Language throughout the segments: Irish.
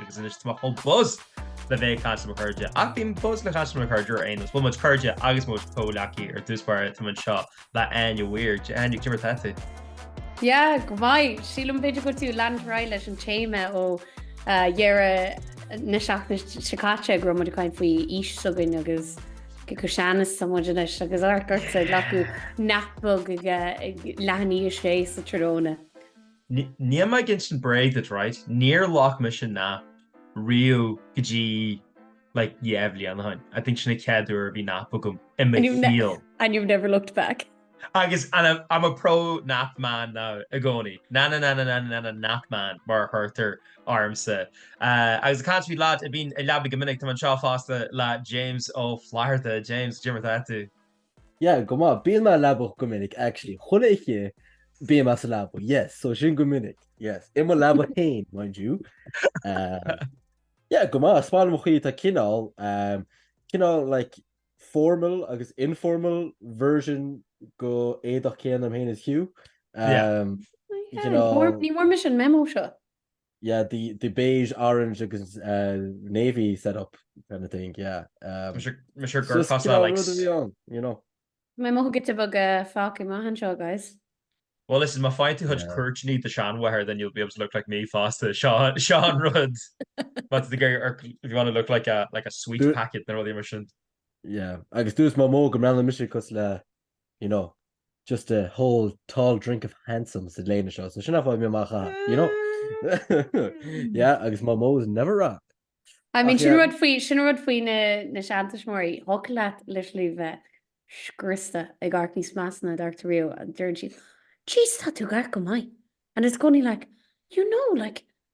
Agus anois tá mé chomh buzz le bheith ag caint le mo chairde, ach bíonn buzz le caint le mo chairde ar aon nós. Bhfuil muid cairde agus muid comhleacaithe ar dtús báire tá mé anseo le Áine Weir. Dia Áine, cad é mar atá tú? Dia, go maith. Sílim b'fhéidir go bhfuil tú ag leanúint ar aghaidh leis an téama ó dheireadh na seachtaine seo caite go raibh muid ag caint faoi aois s'againn agus cé chomh sean is atá muid anois agus amharc ortsa ag glacadh nap beag ag leath i ndiaidh a sé sa tráthnóna. Níl mé ag insint bréag duit, raight? Níor ghlac mise nap riamh go dtí like dhá bhliain ó shin. I think sin an chéad uair a bhí nap agam i mo shaol. And you've never looked back? Agus and I'm, I'm a pro nap man now i gcónaí. Na-na-na-na-na-na-na-na nap man mar a thabhartar ormsa. Agus ag caint faoi lads a bhíonn i leabaidh go minic, táim anseo fosta le James Ó Flatharta. James, cad é mar atá tú? Yeah, go maith. Bíonn mé sa leaba go minic, actually. Chuile oíche bím mé sa leaba, yes. So sin go minic, yes. I mo leaba féin, mind you. Um, yeah, go maith. Is maith liom an chaoi, tá cineál, um, cineál, like, formal agus informal version den éadach céanna agam féin is Hugh. Um, Yeah. you know, Ní bhfuair mise an memo seo. Yeah the the beige orange agus uh navy set up kind of thing yeah um Tá sé gur fása like rud a bhí ann you know. Tá mé mothú giota beag fágtha amach anseo guys. Well listen má fhaigheann tú cuid cuirtíní do sheanmháthair then you'll be able to look like me fosta seo an rud má tá tú ag iarraidh amharc if you want to look like a like a sweet packet nó rudaí mar sin. Yeah agus dúirt Mamó go mbreathnaíonn mise cosúil le you know, just a whole tall drink of handsome sa léine seo, so sin an fáth a bhí mé amach a', you know, yeah, agus Mamó's never wrong. I mean, sin rud faoi, sin an rud faoi na, na seantuismitheoirí, thiocfadh leat literally bheith scriosta ag amharc níos measa ná d'amharc tú riamh, agus deireann siad, 'Jeez, tá tú ag amharc go maith', and it's going like, 'You know, like,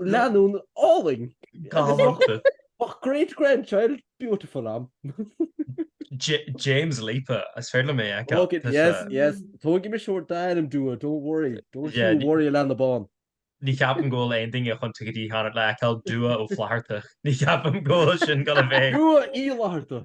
leanúna álainn. Tábhachtach. Ba great grandchild beautiful am. James Lipa, is féidir liom é a fheiceáil. Ok, yes, yes. Tógfaidh mise d'ainm Dua, don't worry. Don't you worry, a leanbh bán. Ní cheapaim go bhfuil aon duine chun ticéad a cheannacht le feiceáil Dua Ó Flatharta. Ní cheapaim go bhfuil sin ag goil a bheith. Dua Uí Fhlatharta.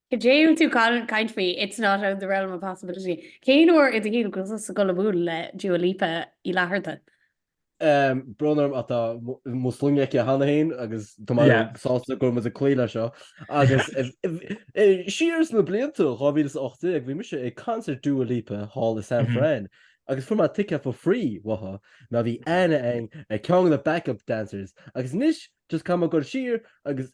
Cad é atá tú ag caint faoi, it's not out of the realm of possibility. Cén uair i do shaol go bhfuil tú ag goil ag bualadh le Dua Lipa Uí Fhlatharta? Brón orm ach tá mo shloinne aici cheana féin agus tá mé sásta go bhfuil muid ag cloí leis seo. Agus siar sna blianta 2018 bhí mise ag concert Dua Lipa thall i San Fran agus fuair mé ticket for free uathu mar bhí aithne agam ar cheann de na backup dancers agus anois just caithfidh mé dul siar agus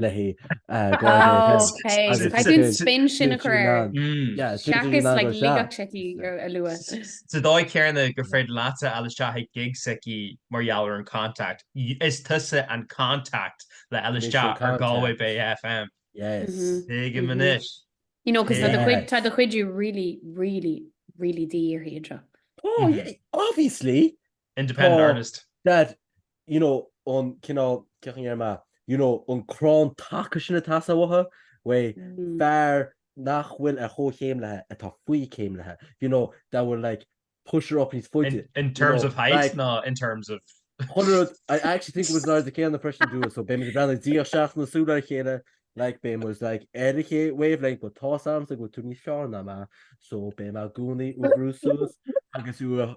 léi spin sin a chur a lua. Sa dóigh chéanna gur féidir leat a fháil isteach ag gigs s'aici mar gheall ar an contact. Is tusa an contact le fháil isteach ar Galway Bay FM. Tuigim anois. You know cos tá do chuid really really really díorthaí anseo. Obviously! Independent artist. Dad, you know, an cineál, cén chaoi a ndeirim é, you know, an crann taca sin atá sa bhotha, way, fear nach bhfuil ar chomhchéim léithe atá faoi céim léithe, you know, that will like push her up níos faide. In terms of height ná in terms of. Chuile rud, I actually think it was an airde céanna freisin le Dua, so beidh muid ag breathnú ag díol seachas na súl ar a chéile, like beidh muid like ar an wavelength, but tá's agam is go bhfuil tú níos fearr ná mé, so beidh mé i gcónaí do do bhrú suas agus do do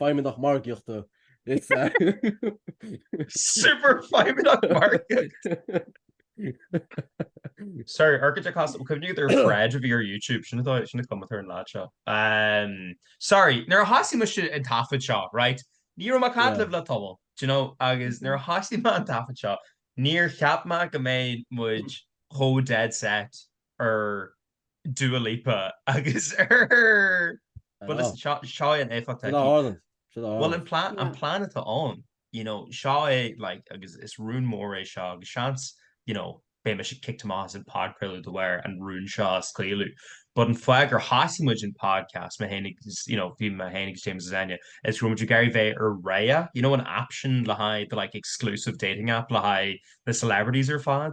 feidhmeannach margaíochta is ea. Super feidhmeannach margaíochta! Sorry, ar thaobhchasadh, bhfuil cuimhne agat ar Fred a bhí ar YouTube? Sin atá, sin a cumhaíonn tar an leaid seo. Umm, sorry, nuair a thosaigh mise an taifead seo, right, ní raibh mé ag caint Yeah. libh le tamall, do you know, agus nuair a thosaigh mé an taifead seo, níor cheap mé go mbeadh muid chomh dead set ar Dua Lipa agus ar. Bhuel listen, seo, seo é an éifeacht atá Sin a aici. tharla. Sin a tharla. Bhuel an plean, Yeah. an plean atá ann, you know, seo é like agus is rún mór é seo agus seans, you know, beidh mise kicked amach as an podcraoladh de bharr an rún seo a scaoileadh. But an fáth gur thosaigh muid an podcast, mé féin agus, you know, bhí mé féin agus James is Áine, is go raibh muid ag iarraidh bheith ar Raya, you know an app sin le haghaidh the like exclusive dating app le haghaidh na celebrities ar fad?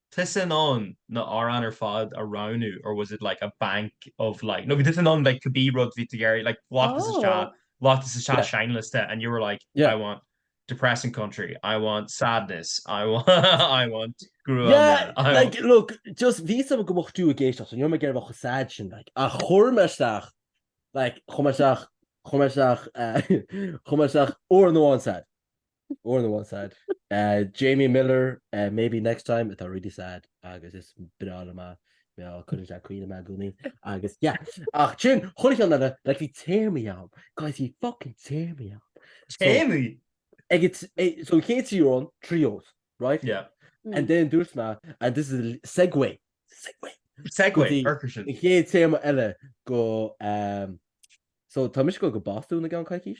tusa in ann na hamhráin ar fad a roghnú or was it like a bank of like nó raibh tú in ann like cibé rud bhí tú ag iarraidh like lot is isteach lot is isteach seinnliosta and you were like I want depressing country I want sadness I want I want gruaim yeah I want like look just bhí a fhios agam go mbeadh tú ag éisteacht so ní raibh mé ag iarraidh bheith chomh sad sin like ach chuir mé isteach like chuir mé isteach chuir mé isteach chuir mé isteach amhrán amháin sad. More than one sad. Uh, Jamie Miller, uh, Maybe Next Time, atá really sad, agus is breá liom é mar cuireann sé ag caoineadh mé i gcónaí, agus, yeah. Ach sin, chuile cheann eile, like, bhí téamaí ann. Guys, bhí fucking téamaí ann. So, Téamaí! ag it- eh, so chéad trí amhrán, trí os, right? Yeah. And then dúirt mé, and this is a l- segue, segue, Segway, Goodí. orca sin. an chéad téama eile go, um, so tá mise ag goil go Bostún i gceann coicís.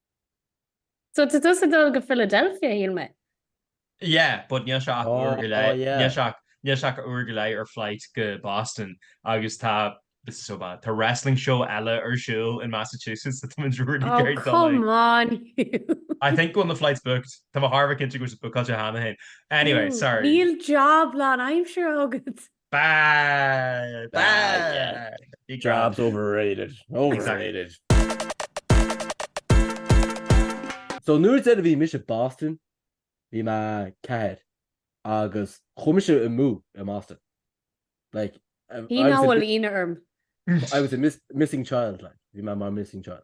So tá tusa ag dul go Philadelphia shíl mé? Yeah, but níl sé ach uair go leith, níl sé ach, níl sé ach uair go leith ar flight go Boston agus tá, this is so bad, tá wrestling show eile ar siúl in Massachusetts so tá muid really ag iarraidh dul aige. Oh come on Hugh! I think one of the flights booked, tá mé thar a bheith cinnte go bhfuil sé bookáilte cheana féin. Anyway, sorry. Níl job lánaimseartha agat! Bad! Bad! Jobs overrated. Overrated. So an uair deiridh a bhí mise i Boston bhí mé a ceathair agus chuaigh mise amú i mBoston like Bhí mé bhfuil aoinne orm. I was a missing child like bhí mé mar missing child.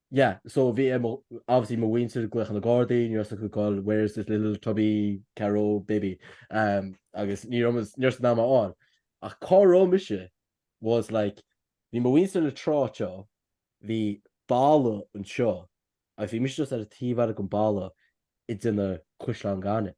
Yeah, so bhí ar mo, obviously mo mhuintir glaoch ar na Gardaí, ní raibh fhios acu goil, where is this little chubby Carraroe baby? um, agus ní raibh mise, ní raibh siad in ann mé a fháil. Ach cá raibh mise was like, bhí mo mhuintir le tráiteá, bhí balla anseo, agus bhí mise just ar an taobh eile den balla ag déanamh caisleán gainimh.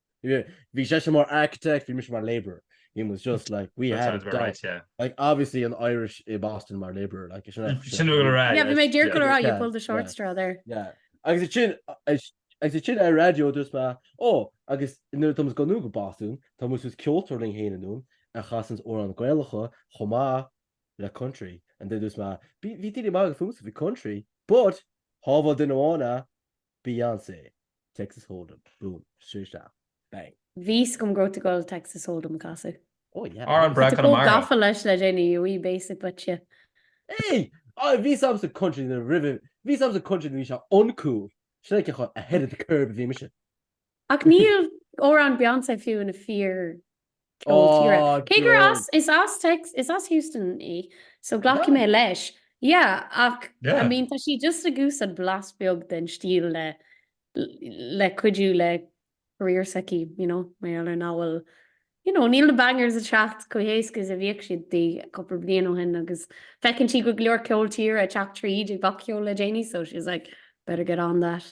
Bhí seisean mar architect, bhí mise mar labourer. He was just like, we had it down. Right, yeah. Like, obviously an Irish i Boston mar labourer, like, is sin é. Sin uair a. Yeah, bhí mé díreach le rá, you pulled the short straw there. Yeah. Agus ansin, agus ansin ar an raidió dúirt mé, ó, agus nuair atá muid ag dul anonn go Boston, tá muid suas ceoltóir linn féin anonn a chasanns amhráin Ghaelacha chomh maith le country. And then dúirt mé, bhí daoine ag magadh fúmsa faoi country, but shábháil duine amháin é, Beyonce, Texas Hold'em, boom, straight shot, bang. bhí fhios agam go raibh tú ag goil Texas Hold'em a chasadh. Oh yeah. Amhrán breá Tá chomh Conamara. gafa leis le déanaí, a wee basic but yeah. Hey! Oh, bhí fhios agamsa country na roimhe, bhí fhios agamsa country nuair a bhí sé uncool. Sin é cé chomh ahead of the curve a bhí mise. Ach níl amhrán Beyonce fiú ina fíor cheol tíre. Cé gur as, is as Tex, is as Houston í, so glacfaidh mé leis. Yeah, ach I mean tá sí just ag úsáid blas beag den stíl le, le cuidiú le career s'aici, you know, mar gheall ar nach bhfuil, you know, níl na bangers ag teacht chomh héasca is a bhíodh siad di cúpla bliain ó shin agus feiceann sí go leor ceol tíre ag teacht tríd i bpopcheol le déanaí so she's like, better get on that.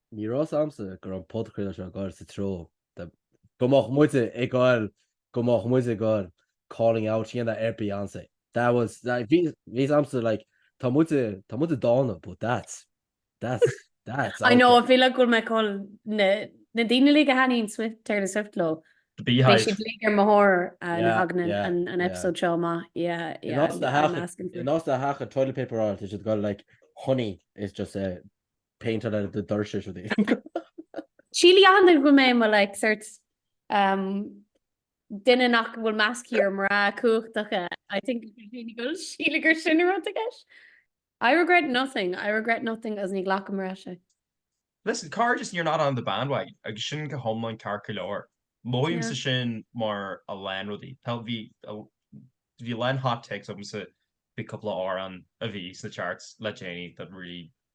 Ní raibh fhios a'msa go raibh an podchraoladh seo ag gabhail sa treo de, go mbeadh muide ag gabhail, go mbeadh muid ag gabhail calling out a dhéanamh ar Beyonce. That was, that, bhí fhios a'msa like tá muide, tá muide dána but that's, that's, that's out there. I know, I feel like go bhfuil mé ag gabhail na, na daoine uilig a thaitníonn Swift, Taylor Swift leo, The beehive. beidh siad uilig ar mo thóir nuair a thagann an episode seo amach. Yeah, yeah, I'm asking for it. In áit do theach a toilet paperáil tá siad ag gabhail like honey is just a. paint on it, the dirt is rudaí. Sílim anois go mbeidh mé like sort um duine nach bhfuil meas aige ar mná cumhachtacha I think daoine go síleann gur sin an rud i gceist. I regret nothing, I regret nothing agus ní ghlacfaidh mé ar ais é. Listen, Cairde is you're not on the bandwagon agus sin go hiomlán ceart go leor. Mothaímse sin mar a lán rudaí. Tá, bhí, bhí a lán hot takes agamsa, bhí cúpla amhrán a bhí sna charts le déanaí that really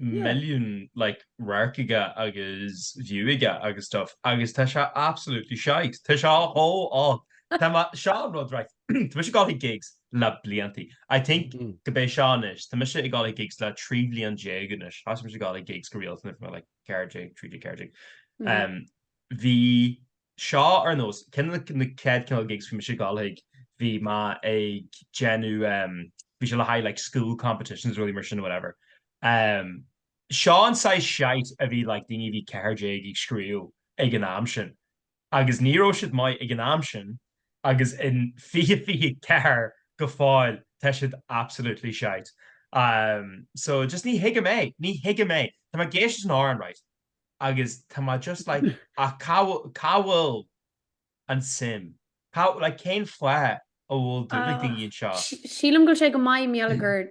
milliún like radharc aige agus view aige agus stuff agus tá sé absolutely shite. Tá sé dhó álainn. Tá mé, seo an rud right, tá mise ag dul chuig gigs le blianta. I think gurb é seo anois, tá mise ag dul chuig gigs le trí bhliain déag anois. Thosaigh mise ag dul chuig gigs go rialta nuair bhí mé like ceathair déag, trí déag, ceathair déag. Bhí seo ar nós, ceann de na chéad cineál gigs a bhí mise ag dul chuige bhí mé ag déanamh em bhí sé le haghaidh like school competitions rudaí mar sin whatever em seo an saghas shite a bhí like daoine a bhí ceathair déag ag scríobh ag an am sin agus ní raibh siad maith ag an am sin agus in fiche fiche ceathair go fóill tá siad absolutely shite em so just ní thuigim é ní thuigim é tá mé ag éisteacht leis an amhrán right. Agus tá mé just like, ach cá bhfuil, cá bhfuil an tsuim? Cá, like, cén fáth a bhfuil duine de dhíth anseo? Sílim go bhfuil sé go maith mar gheall gur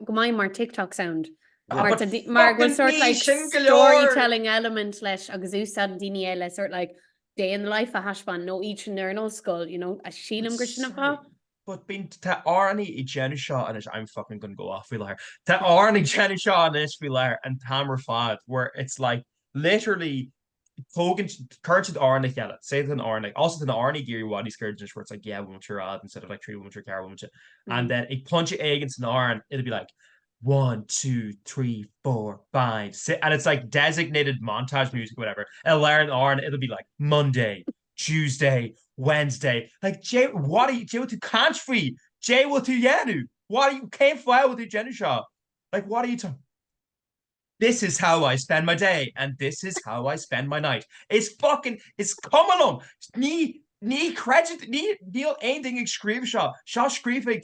go maith mar TikTok sound. Ah, but fucking bhí sin go leor! Mar go bhfuil sort like storytelling element leis agus úsáideann daoine é le sort like day in the life a thaispeáint nó áit oibre nó scoil, you know, sílim gur sin an fáth. But bíonn, tá amhránaithe ag déanamh seo anois I'm fucking gonna go off faoi láthair. Tá amhránaithe ag déanamh seo anois faoi láthair an t-am ar fad where it's like literally tógann siad, cuireann siad amhrán le chéile, say tá amhráin, also tá amhráin ag éirí i bhfad níos giorra anois where it's like dhá bhomaite ar fhad instead of like trí bhomaite or ceathair bhomaite and then ag pointe éigin san amhrán it'll be like one, two, three, four, five, six and it's like designated montage music whatever i lár an amhrán it'll be like Monday, Tuesday, Wednesday, like caidé what caidé bhfuil tú caint faoi? Caidé bhfuil tú dhéanamh? What cén fáth bhfuil tú déanamh seo? Like what are you talking? This is how I spend my day and this is how I spend my night. Is fucking is cuma liom! Ní ní chreidim ní níl aon duine ag scríobh seo, seo scríofa ag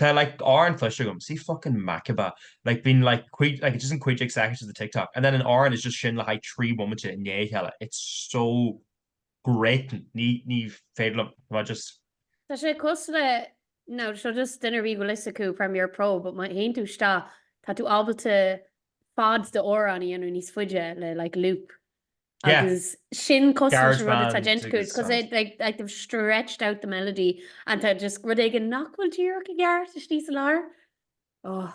Tá like amhráin cloiste agam. See fucking Makeba. Like bíonn like cúig like it's just an cúig déag seconds of the TikTok. And then an amhrán is just sin le haghaidh trí bhomaite i ndiaidh a chéile. It's so grating. Ní ní féidir liom é just. Tá sé cosúil le nó seo just duine ar bith a bhfuil a fhios acu Premier Pro, but má théann tú isteach tá tú ábalta fad de amhrán a dhéanamh níos fuide le like loop. Agus sin cosúil le rud atá déanta agat, cos it like like they've stretched out the melody, and tá just rud éigin nach bhfuil díreach i gceart istigh sa lár. Ó.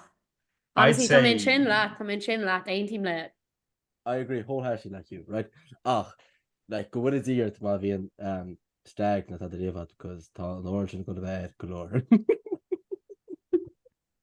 Honestly, tá mé ansin leat, tá mé ansin leat, aontaím leat. I agree wholeheartedly like you, right? Ach, like, go bhfuil i dtír má bhíonn stag nó tá de riamh ann, cos tá an fhoireann sin ag gabháil air go leor.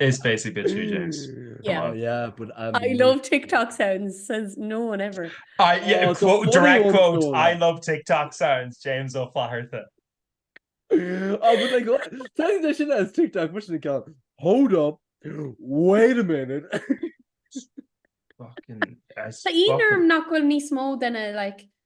Is béasach duit thú, James. Yeah. Come on. Yeah, but I'm I love with you. TikTok sounds, says no one ever. I- Oh, yeah, it's a quote- funny direct one, quote, though. I love TikTok sounds, James Ó Flatharta. Oh, but like, what- tá an deis sin as TikTok, muise na ceann, Hold up, wait a minute. Fucking- Tá aon fucking- orm nach bhfuil níos mó de na, like,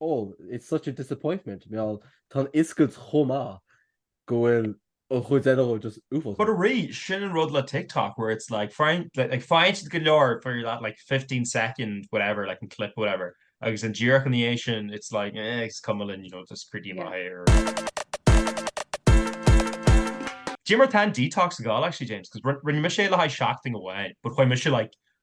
oh, it's such a disappointment, meall, tá an fhuiscailt chomh maith go bhfuil an chuid eile dhó just uafásach. But really, sin an rud le TikTok, where it's like, faigheann, like, faigheann siad go leor for that like fifteen second whatever, like an clip whatever, agus an díreach ina dhiaidh sin, it's like, eh, is cuma linn, you know, just cuir amach é or Inis dom faoin detox go fóill actually, James, 'cause rinne mise é le haghaidh seachtaine amháin, but chuir mise like,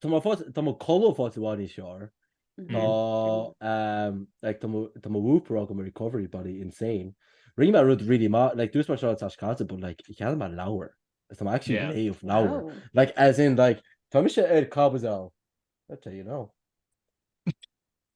Tá mo phost, tá mo codladh i bhfad níos fearr. Tá, like, tá mo, tá mo Whoop agam, my recovery body insane. Rinne mé rud really mad, like, dúirt mé seo an tseachtain seo caite, but like, cheannaigh mé leabhar. Is tá mé actually Yeah. ag léamh leabhar. Oh. Like, as in, like, tá mise ar caibidil a, I'll tell you now.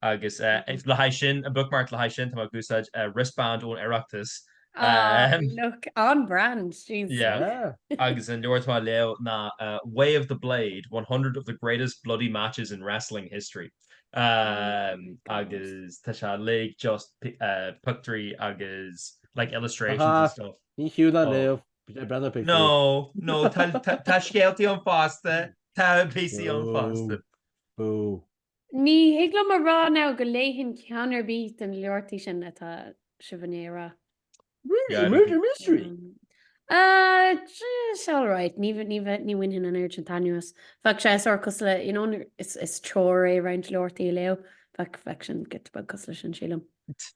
agus le haghaidh sin, an bookmark, le haghaidh sin tá mé ag úsáid wristband ón Oireachtas. Ah, look, on brand, jeez. Yeah, agus an leabhar atá á léamh ná Way of the Blade, 100 of the greatest bloody matches in wrestling history. Agus tá sé like just pictiúirí agus like illustrations and stuff. Aha, ní fiú léamh, bí díreach ag breathnú ar pictiúir. No, no, tá scéaltaí ann fosta, tá píosaí ann fosta. Boo, boo. Ní thig liom a rá anois go léifinn ceann ar bith de na leabhartaí sin atá sibh ag léamh. Really? Murder Mystery? It's all right. Ní bhainfinn an aird sin t'anuas. Bheadh sé saghas cosúil le, you know, is treoir é roinnt leabhartaí a léamh. Bheadh sin giota beag cosúil leis sin, sílim.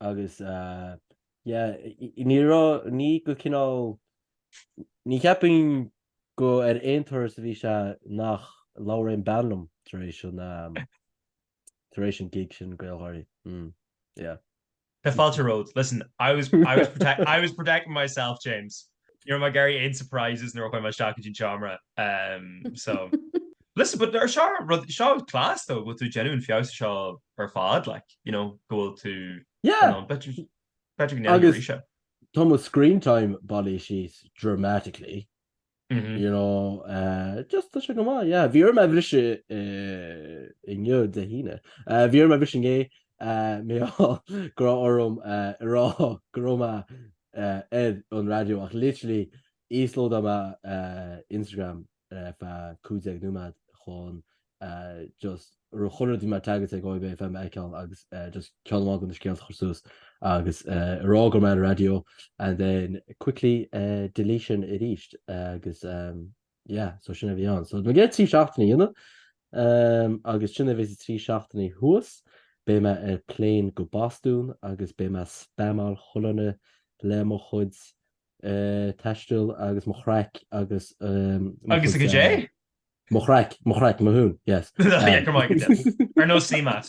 agus yeah ní raibh ní go cineál ní cheapfainn gur ar aon turas a bhí sé nach labhair aon bean liom tar éis an tar éis an gig sin GaelGáirí mm yeah. Tá fáilte romhat. Listen, I was, I was protecting myself, James. Ní raibh mé ag iarraidh aon surprises nuair a chuaigh mé isteach go dtí an seomra. So, listen, but seo rud, seo class though go bhfuil tú genuine faoi seo ar fad, like, you know, go bhfuil tú Yeah! in ann. Beidh tú, beidh tú go ndéanfaidh Agus- arís. Tá mo screen time bailithe síos dramatically, Mhm. you know, eh, just tá sé go maith, yeah. Bhí orm a bhriseadh eh, inniu, Dé hAoine. Eh, bhí orm a bhriseadh inné, eh, mé á- go raibh orm eh, a rá go raibh mé ar an raidió ach literally íoslódáil mé Instagram ar feadh 15 nóiméad chun just chuile rud a bhí mé ag tagáilte ag OIB FM a fheiceáil agus just ceann amháin de na scéalta a chur suas agus a rá go raibh mé ar an raidió and then quickly deletion arís agus Yeah, so sin a bhí ann. So i gceann trí seachtainí inniu, ehm, agus sin a bhí sa trí seachtainí thuas, beidh mé ar plane go Bostún agus beidh mé ag spamáil chuile dhuine le mo chuid eh, taisteal agus mo chraic agus ehm, mo Agus a chuid, caidé? eh, mo chraic, mo chraic, mo hún, yes. Yeah, Ehm, go maith go dé. Ar nós Seamat.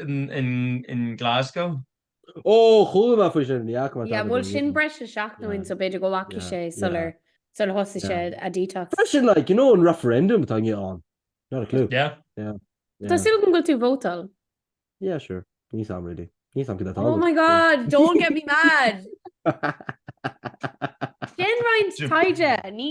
i nGlasgow. Ó, chuala mé faoi sin, ní fhaca mé tada go fóill. Bhuel, sin breis is seachtain, so b'fhéidir go bhfaca sé sular thosaigh sé a detox. Freisin, like, you know, an referendum atá inniu ann, not a clue. Yeah. Yeah. Yeah. Tá súil agam go bhfuil tú ag vótáil. Yeah, sure. Níl fhios agam really. Níl fhios agam cad atá ann. Oh my God, don't get me mad! Déan roinnt taighde, ní.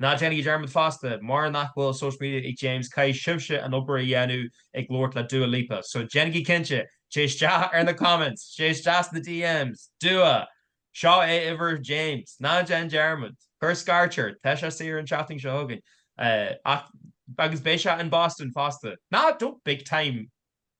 Ná déanaigí dearmad fosta, mura nach bhfuil social media ag James, caithfidh sibhse an obair a dhéanamh ag labhairt le Dua Lipa. So, déanaigí cinnte, téigí isteach ar na comments, téigí isteach sna DMs, Dua! Seo é uimhir James. Ná déan dearmad. Cuir scairt air. Tá sé saor an tseachtain seo chugainn. Ach, agus beidh sé in Boston fosta. Ná, don't big time!